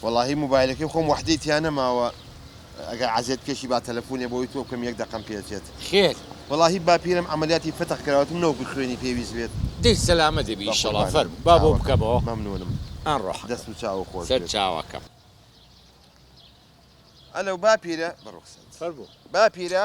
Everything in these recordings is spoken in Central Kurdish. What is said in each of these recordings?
وەڵاهی موبایلەکەی خۆم وەحدەی تیا نەماوە ئەگەر عەزێت کێشی با تەلەفونێ بۆی تۆ بکەم یەک دەقەم پێ چێت. خێر. وەڵاهی باپیرەم عەمەلیاتی فەتح کراوەتم نەوەکو خوێنی پێویست بێت. دەی سەلامەت دەبی ئیشەڵا فەرموو با بۆ بکەمەوە. چاوەکەم. مەمنونم. ئەن ڕۆحەکەم. دەست و چاوو خۆش بێت. سەر چاوەکەم. ئەلۆ باپیرە. بە ڕوخسارت. فەرموو. باپیرە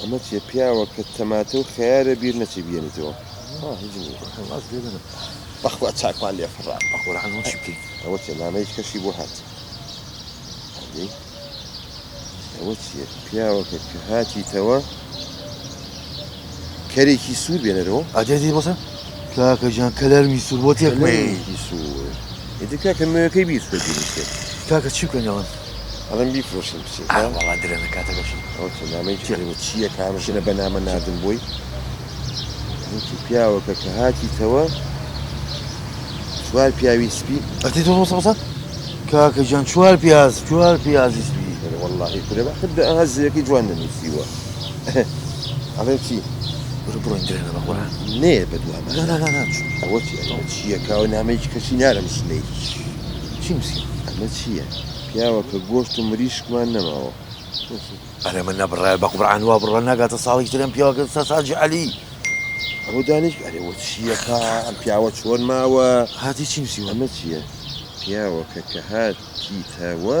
ئەمە چیە پیاوە کە تەماتە و خەیارە بیر نەچێ بیەنیتەوە ها هیچ نیە. بەخوا گوێ بنە بەخوا چاکمان لێ فڕا. بەقورعان ئەوە چی بکەین. ئەوە چیە نامەی کەشی بۆ هات ئەدەی ئەوە چیە پیاوەکە کە هاتیتەوە کەرێکی سوور بێنەرەوە. ئەدێ دێ بەسە کاکە گیان کەلەرمی سوور بۆ تێکمەیەی. کەلەرێکی سوور ئیتر کاکە نوێکەی بیر سوور بینیشێ. کاکە چی بکەین ئەڵێم. ئەڵێم بیفرۆشن بچێ ئا وەڵا درەنە کاتەکەشی. ئەوە چیە نامەی جی ئەڵێ چیە کامە ژنە بە نامە ناردم بۆی وتی پیاوەکە کە هاتیتەوە چوار پیاوی سپی ئەتی تۆ ڕۆسە ڕۆسە کاکە جان چوار پیاز چوار پیازی سپی ئەرێ وەڵاهی کورە بە حد ئەها زەویەکەی جوان نەنووسیوە ئەڵێم چی برو بڕۆین درەنە بە قورئان نێ بە دوامان نا نا نا نا چوو ئەوە چی ئەرێ بە چیە کاوە نامەی کەچی نارم ژنەی چی نوسیوە ئەمە چیە پیاوە کە گۆشت و مریشکمان نەماوە نوسیوە. ئەرێ من نەبڕایە بە قورعان وا بڕوا ناگاتە ساڵێکی تر ئەم پیاوە کە سەس حاجی عەلی. ئەوە دانیشک ئەرێ وە چیە کا ئەم پیاوە چۆن ماوە. هاتی چی نوسیوە ئەمە چیە پیاوە کە کە هاتیتە وە.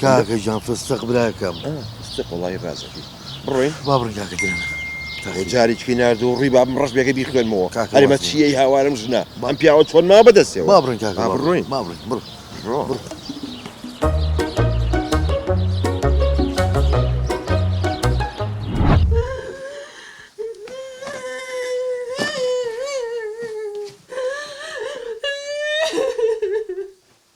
کاکە گیان فستق براکەم فستق وڵی ڕازەکەی بڕۆین با بڕین کاکە گیان جارێکی نرد و ڕی بابم ڕش بێگە بیخوێنمەوە هەرمە چیەی هاوارم ژنە بەم پیاوە چۆن ما بەدەستێ با بڕین کاکە بڕۆین با بڕین بڕۆ بڕۆ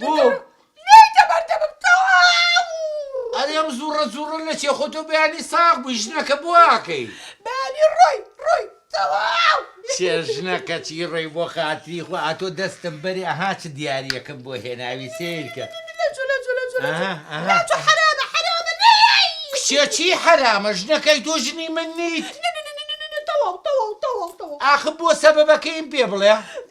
بووم. لێی تەبەر دەبم تەواو. ئەرێ ئەم زوڕە زوڕە نەچێ خۆ تۆ بەیانی ساغ بووی ژنەکە بۆ ئاکەی. بەیانی ڕۆی ڕۆی تەواو. چێ ژنەکە چی ڕۆی بۆ خاتری خوا ئەتۆ دەستم بەری ئەها چ دیاریەکم بۆ هێناوی سەیر کە. لەچۆ لەچۆ لەچۆ لەچۆ لەچۆ حەرامە حەرامە لێی. کچێ چی حەرامە ژنەکەی تۆ ژنی من نیت. نەنەنەنەنەنە تەواو تەواو تەواو تەواو. ئاخ بۆ سەبەبەکەیم پێ بڵێ.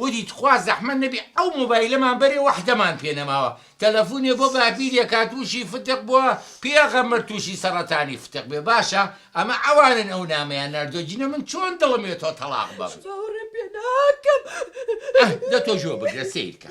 وتی تخوا زەحمەت نەبی ئەو مۆبایلەمان بەرێ وەحدەمان پێ نەماوە تەلەفونێ بۆ بابیر یەکا توشی فتق بوە پیەغەمبەر توشی سەڕەتانی فتق بێ باشە ئەمە ئەوانن ئەو نامەیان ناردوە جنە من چۆن دڵم وێ تۆ تەڵاق بەم ئه دە تۆ گوێ بگرە سەیرکە.